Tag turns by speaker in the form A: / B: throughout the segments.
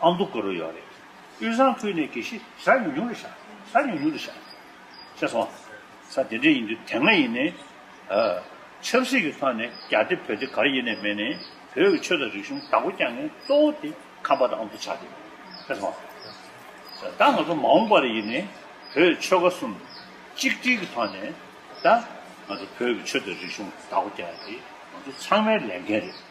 A: ཨ་མདོ་དགུ་རུ་ཡོད་རེད། དབུས་གཙང་ཁུལ་ནས་གེ་ཤི་ས་ཉུང་ཉུང་རེད་ཤག་ས་ཉུང་ཉུང་རེད་ཤག། ཤེས་སོང། ས་དེ་འདྲ་ཡིན་དུས་དེ་སྔ་ཡིན་ནས། ཆབ་སྲིད་ཀྱི་ཐོག་ནས་རྒྱ་དེ་བོད་དེ་གར་ཡེ་ནས་མེད་ནས་བོད་ཀྱི་ཆོས་དང་རིག་གཞུང་བདག་པོ་རྐྱང་མཁན་གཙོ་བོ་དེ་ཁམས་པ་དང་ཨ་མདོ་ཆགས་དེ་རེད། ཤེས་སོང། ད་ང་ཚོ་མ་འོངས་པར་ཡིན་ནས་བོད་ཆོལ་ཁ་གསུམ་གཅིག་སྒྲིལ་གྱི་ཐོག་ནས་ད་ང་ཚོ་བོད་ཀྱི་ཆོས་དང་རིག་གཞུང་བདག་པོ་རྐྱང་དེ་ང་ཚོ་ཚང་མའི་ལས་འགན་རེད།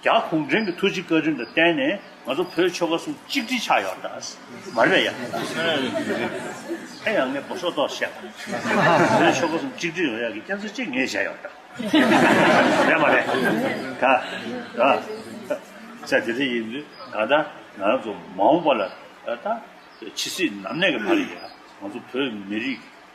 A: རྒྱ་གུང་ཁྲན་གྱི་ཐུགས་རྗེ་བཀའ་དྲིན་དང་བརྟེན་ནས་ང་ཚོ་བོད་ཆོལ་ཁ་གསུམ་གཅིག་སྒྲིལ་ཆགས་ཡོད་ད། མ་རེད་ཡ། ཨེ་ཡ་ངས་སྒོ་ཟོག་ཏོག་བཤད་པ། བོད་ཆོལ་ཁ་གསུམ་གཅིག་སྒྲིལ་ཡོང་ཡ་གི་རྐྱེན་ཚོད་ཅིག་ངས་བྱས་ཡོད་ད། རེད་མ་རེད། ད་ཨ། ཆ་དེ་འདྲ་ཡིན་དུས་ད་ལྟ་ང་ཚོ་མ་འོངས་པ་ལ་ད། ཇི་སྲིད་ནམ་གནས་ཀྱི་བར་ཡིན་ཡང་ང་ཚོ་བོད་མི་རིགས།